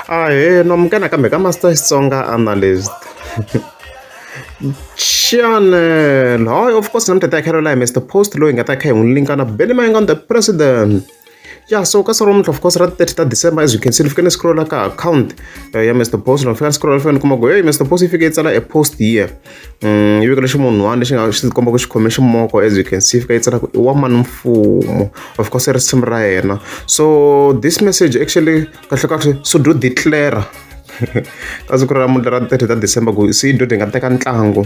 ahee nomkena kambe ka master xitsonga analyst channel hi of course namta ta khelo lahi mr post loyi nga ta kha hi n'wi linka na benny mayinga on the president ya so ka siku romuntlha of course ra 30 ta december as you can see ni fike ni scrolla ka account eh, ya mr post ni fika ni scrolla ni fika ni kuma ku hey mr post yi fike yi tsala a post here yi vekele ximunhuwana lexi nga xi komba ku xi khome ximoko as you can see fika yi tsala ku i wa mani mfumo of course i risimu ra yena so this message actually kahlekahle so do declare ka siku ra namuntlha ra thirty ta december ku sido hi nga teka ntlangu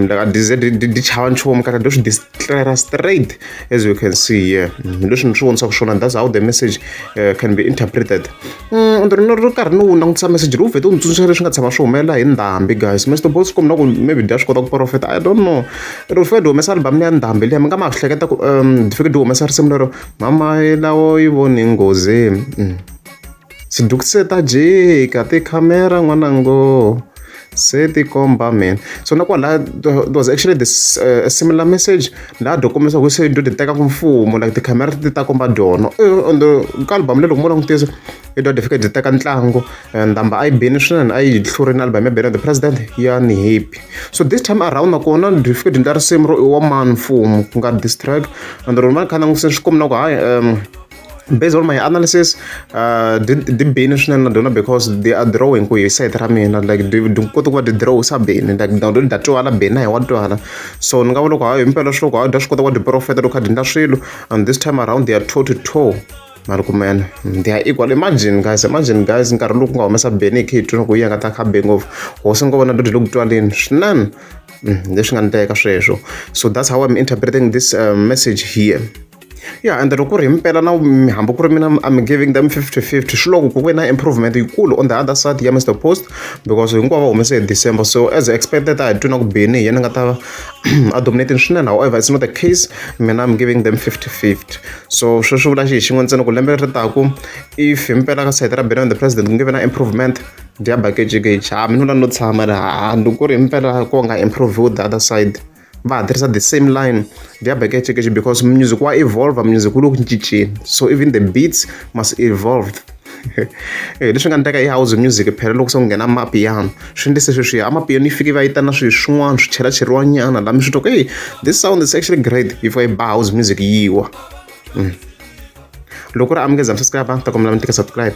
like a dz di chava nchumu kahle do swi clearer straight as you can see here mm, leswi ni swi vonisaka swona that's how the message uh, can be interpreted mm, ndo rino ri karhi ni wu langutisa message lowu vhete u ni tsundzuxa leswi nga tshama swi humelela hi ndhambi guys mr bos kumna ku maybe dya swi kota ku profeta i don't know ri fike di humesa album ya ndhambi liya mi nga ma swi hleketa ku um di fike di humesa risimu lero mama lawo yi voni nghozi mm. Tsundzuki se ta jika tikhamera n'wana ngo se ti komba man so na kwala there was actually this uh, similar message laha do kombisa ku se do ti teka ku mfumo like tikhamera ti ta komba dono on the ka album lelo ku mo langutisa i do ti fika ti teka ntlangu ndhamba a yi bini swinene a yi hlurile album ya bene the president ya ni happy so this time around nakona ti fika ti endla risimu ro i wa mani mfumo ku nga distract and rona va kha langutisa swi kombina ku hayi um based on my analysis uh, di di bini swinene na dyona because they are drawing ku hi site ra mina like di kota ku va ti draw sa bini like na do da twala bini na hi wa twala so ni nga vona ku hayi himpela swi loko hayi da swi kota ku va ti profeta loko kha di ndla swilo and this time around they are toe to toe mari kumene they are equal imagine guys imagine guys nkarhi lowu ku nga humesa beni hi kheyi ku yi nga ta kha be ngopfu hosi ni ngo vona dodi loku twaleni swinene mm, leswi nga ni teka sweswo so that's how i'm interpreting this uh, message here ya ende loko ku ri hi mpela na hambi ku ri mina I'm giving them fifty fifty swi loko ku ve na improvement yikulu on the other side ya Mr Post because hinkwavo va humese hi December so as expected a hi twi na ku beni hi yena nga ta a dominating swinene however it's not the case mina I'm giving them fifty fifty so sweswi vula xi hi xin'we ntsena ku lembe ri taku if hi mpela ka side ra beni the president ku nge ve na improvement dia bakejikeji ha mina u la no tshama ri ha ni ku ri hi mpela ko nga improve the other side va ha tirhisa the same line their back education because music wa evolve music wu le ku cinceni so even the beats must evolve eh, leswi nga ndleka i house music phela loko se ku nghena amapiano swi ndlise sweswiya amapiano yi fike va yitana swilo swin'wana swi chela cheriwanyana lami swi toko ey this sound is actually great yi fika yi ba house music yiwa mm. loko ri amukeza msasika va ta kombela mi tika subscribe